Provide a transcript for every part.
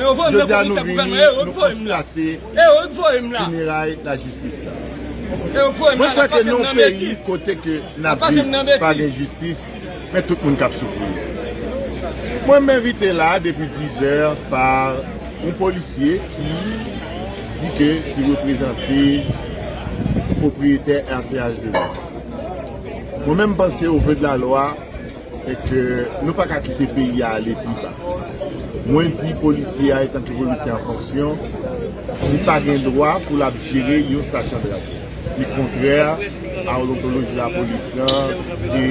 Jodi a nou vini, nou konstate fineray lajistis la. Mwen kwè ke nou yon peyi kote ke n ap viv pa gen jistis, men tout moun k ap soufri. Mwen m envite la depi 10 zè pa yon polisye ki di ke li reprezante pwopriyetè RCH Delma. Mwen menm m panse o ve de la lwa, e ke nou pa ka kite peyi a ale pi ba. Mwen di polisye a etanke polisye an fonksyon, li pa gen dwa pou l ap jere yon stasyon de radyo. Li kontrè a odontoloji lapolis lan e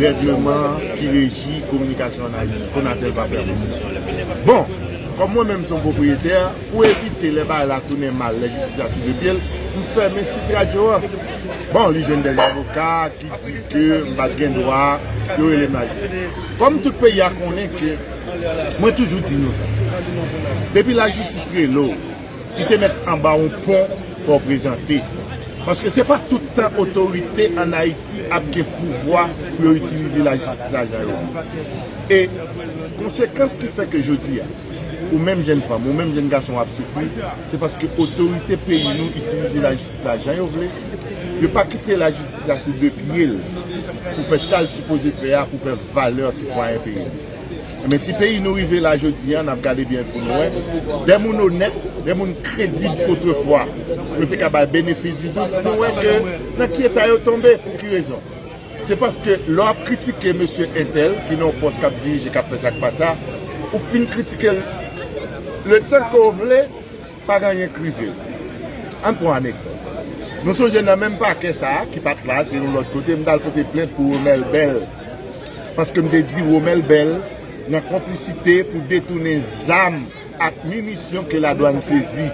règleman ki reji kominikasyon ann Ayiti. Konatel pa pèmèt sa. Bon, kòm mwen menm se yon pwopriyetè, pou evite lè bagay la tounen mal, lè jistis la sou de pye l, m fèmen sit radyo a. Bon, li jwenn dè avoka. Li di ke m pa t gen dwa yo rele m lajistis. Kòm tout peyi a konnen ke mwen toujou di nou sa, depi lajistis rele w, li te mèt anba yon pon fò w prezante. Paske se pa tout tan otorite an Ayiti ap gen pouvwa pou yo itilize lajistis la jan yo vle. E konsekans ki fè ke jodi a ou menm jenn fanm, ou menm jenn gason ap soufri, se paske otorite peyi nou itilize lajistis. sa jan yo vle, yo pa kite lajistis la sou 2 pye l pou fè sa l sipoze fè a pou fè valè sitwayen peyi l. Enben si peyi nou rive la jodi an n ap gade byen pou nou wè de moun onèt, de moun kredib otrefwa nou te ka bay benefis di dout nou wè ke nan ki eta yo tonbe pou ki rezon? Se paske lè w ap kritike mesye entèl ki nan yon pòs k ap dirije k ap fè sa k pa sa ou fin kritike l letan ke w vle Pa gen anyen k rive l. An n pran anekdòt. Nou sonje nan menm pakè sa a, ki pa t la, te yon lòt kote, m t al pote plent pou Romel Bell, paske m te di Romel Bell nan konplisite pou detounen zam ak minisyon ke ladwann sezi.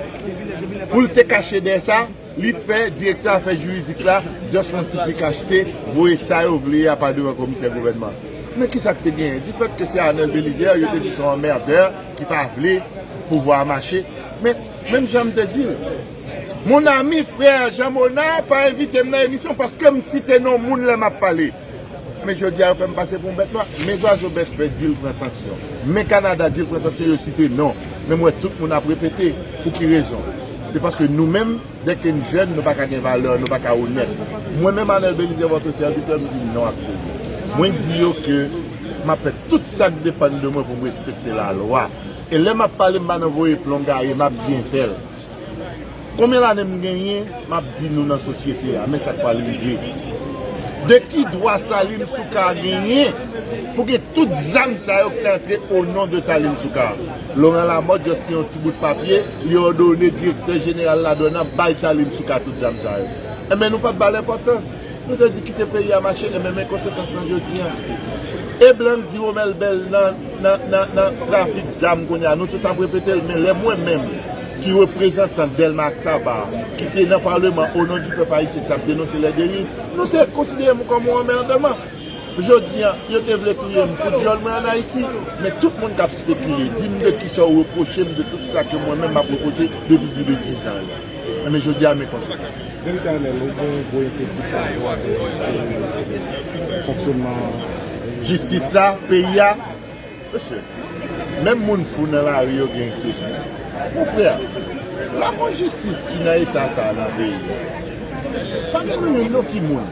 Pou l te kache dèyè sa? Li fè direktè afè juridik la just yon ti pik achte voye sa yo vle a pa devan komisè gouvènman. Men kisa k te genyen du fait ke se Arnel Belizaire yo te di son emmerdeur ki pa vle pouvwa a mache. Men menm jan m te di l Mon ami frère Jean Monard pa envite m nan emisyon paske m site non moun lè m ap pale. Men jodia yo fèm pase pou yon bèt nwa men zwazo bèt fè dil pran sanksyon men kanada dil pran sanksyon yo site non men m wè tout moun ap repete pou ki rezon se paske nou menm dèke n jèn nou paka gen valè nou paka onèt mwen menm Anel Belizaire votre serviteur m di non ak peyi m mwen di yo ke map fè tout sak depann de mwen pou m respekte lalwa e lè map pale m pa nan voye plon gaye map di entèl. Konbyen lane m genyen m ap di nou nan sosyete a, men sa k pral rive. De ki dwa Salim Soukar genyen pou gen tout zam sa yo ki te antre onon de Salim Soukar? Laurent Lamothe just siyen yon ti bout papye, li òdone direktè jeneral ladwàn nan bay Salim Soukar tout zam sa yo. Enben nou pa p ba l enpòtans. Nou te di kite peyi a mache enben men konsekans lan jodi an. E blan k di Romel Bell nan trafik zam kounye a, nou tout ap repete l men lè mwen menm ki reprezantan Dèlma ak Taba ki te nan paleman o non di pèp ayisyen k t ap denonse lè deriv, nou te konsidere m kòm yon anmèrdman. Jodi an, yo te vle touye m pou dyòl mwen an Ayiti, men tout moun k ap spekile, di m de kisa ou repwoche m de tout sa ke mwen menm m ap repwoche depi pli de dizan yo. Enben jodi a men konsekans. Veritableman ou gen gwo enkyetid pa rapò avèk fonksyonman jistis la, peyi a? Mesye, menm moun fou nan lari yo gen enkyetid. Mon frè, la bon jistis ki nan eta sa a nan peyi a? Pa gen nou youn non ki moun.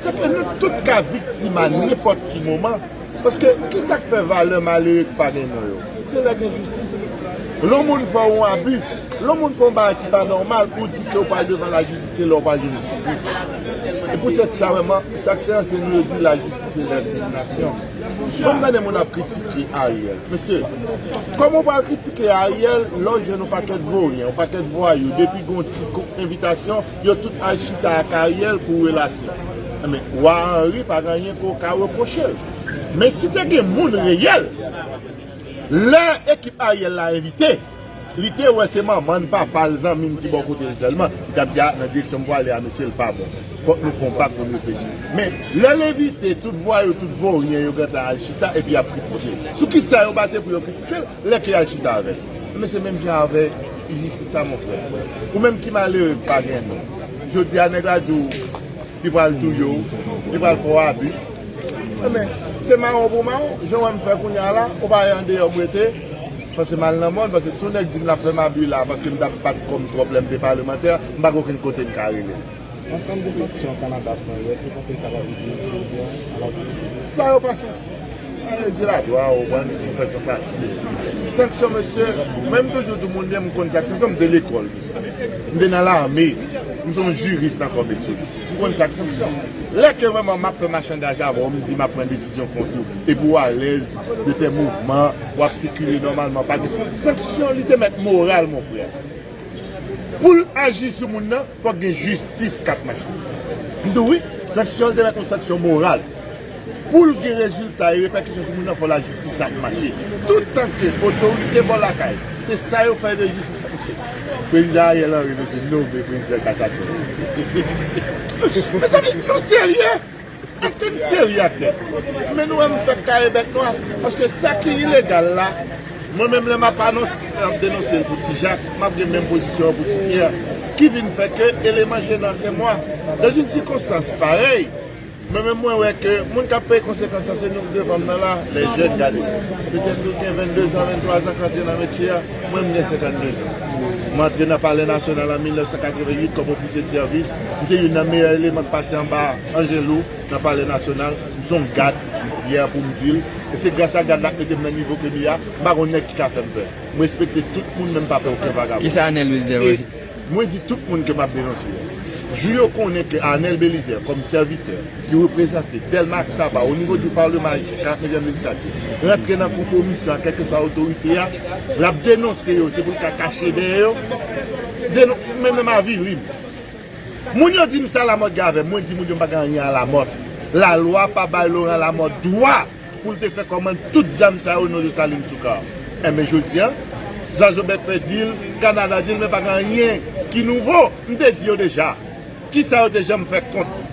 Sa fè nou tout ka viktima nenpòt ki moman. Paske kisa k fè valè malere ki pa gen non yo? Se lè gen jistis. Lè yon moun fè w yon abi, lè yon moun fè yon bagay ki pa nòmal pou w di ke w pral devan lajistis se lè w pral jwenn jistis. E poutèt sa menm an, sa k te anseye nou yo di lajistis se lèv youn nasyon. Lè m tande moun ap kritike Ariel, mesye, kòman w pral kritike Ariel lè w jwenn yon pakèt voryen, yon pakèt vwayou depi gen yon ti envitasyon, Yo tout al chita ak Ariel pou relasyon. Enben, Wa Henry pa gen anyen ke w ka repwoche l. Men si te gen moun reyèl, lè ekip Ariel la envite, li te wè se manman n, papa l, zanmi n ki bò kote l sèlman, li t ap di, a, nan direksyon m pwale a mesye l pa bon. Fòk nou fè yon bak pou n reflechi. Men, lè l envite, tout vwayou, tout voryen yo gentan al chita epi y ap kritike l. Sou kisa yo baze pou yo kritike l? Lè ke yal chita avèl. Ebyen se menm jan avèk injistis la mon frè. Ou menm ki malere ki pa gen non. Jodi a nèg la di w li pral touye w, li pral fè w abi. Ebyen se mawon pou mawon. Jan w wè m fè kounye a la, ou pa wè andeyò m rete. Paske m al nan mòn, paske si yon nèg di m lap fè m abi la, paske m tap bat kò m twòp lè m te palemantè, m pa gen okenn kote m ka rele. Ansanm de sanksyon Kanada pran yè, èske w panse li kapab ede Ethiopia a la pouswiv? Sa yo pa sanksyon. Alè di la dwa ou wè nou vin fè sansasyon. Sanksyon mesye, mwen m toujou di moun byen m konn sa k sanksyon, m te lekòl deja. M te nan lame, m son jiris nan kò metye. M konn sa k sanksyon. Lè ke vrèman m ap fè machandaj avè w, m di m ap pran desizyon kont ou, epi ou alèz de tè mouvman, w ap sikile nòmalman pa gen sanksyon li te mèt moral mon frè. Poul aji sou moun nan fòk gen jistis kap mache. M di w wi, sanksyon l te mèt yon sanksyon moral. Poul gen rezilta e repèkisyon sou moun nan fò lajistis ap mache. Tout tan ke otorite bò lakay se sa yo fè de jistis ap mache. Prezidan Ariel Henry mezi nome prezidan kasasyon. Mezanmi nou serye? Eske n serye ak nèg? Men nou wè m fèk kare bèt nwa paske sa ki ilegal la mwen menm lè m ap anons ap denonse l pou ti jak m ap gen menm pozisyon an pou ti pyè ki vin fè ke eleman jenan se mwa dans une circonstance pareille mwen menm mwen wè ke moun k ap peye konsekans lan se nou k devan m nan la lè jèn gade petèt nou gen 22 zan 23 zan k antre nan metye a mwen m gen 52 zan m antre nan palè nasyonal an 1988 kòm ofisye de sèvis M se youn nan meyè eleman k pase anba Angelou nan palè nasyonal. M se yon gad, m fyè pou m di l. E se gras a gad la k mete m nan nivo ke m ye a. M pa konn nèg ki ka fè m pè. M respekte tout moun men m pa pè oken vagabon. E mwen di tout moun ke m ap denonse yo, jou yo konnen ke Arnel Belizaire kòm sèvitè ki reprezante Dèlma ak Taba o nivo di Palema Ayisyen, 49 èm lejislati, rantre nan konpwomisyon ak kèlkeswa otorite a, l ap denonse yo se pou l ka kache dèyè yo. Denon, men men m avili m. Moun yo di m sa Lamòt gen avè m, mwen di moun yo m pa gen anyen a Lamòt. Lalwa pa bay Loran Lamòt dwa pou l te fè kòmand tout zam sa yo nan Desalin Soukar. Enben jodi a, Zwazo Bèk Fè di l, Kanada di l men pa gen anyen ki nouvo. M te di yo deja ki sa yo te janm fè kont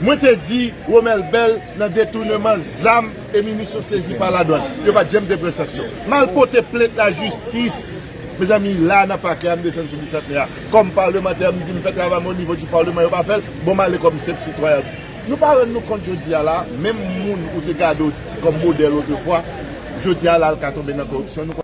mwen te di Romel Bell nan detouneman zam e minisyon sezi pa ladwann. Yo pa t janm te pran sanksyon. M al pote plent lajistis. Mezanmi la nan pakè a m desann sou bisantnè a kòm parlemantè m di m fè travay mwen onivo di parleman yo pa fèl bon m ale kòm senp sitwayan nou pa rann nou kont jodi a la menm moun ou te gade w kòm modèl otrefwa jodi a la l ka tonbe nan koripsyon nou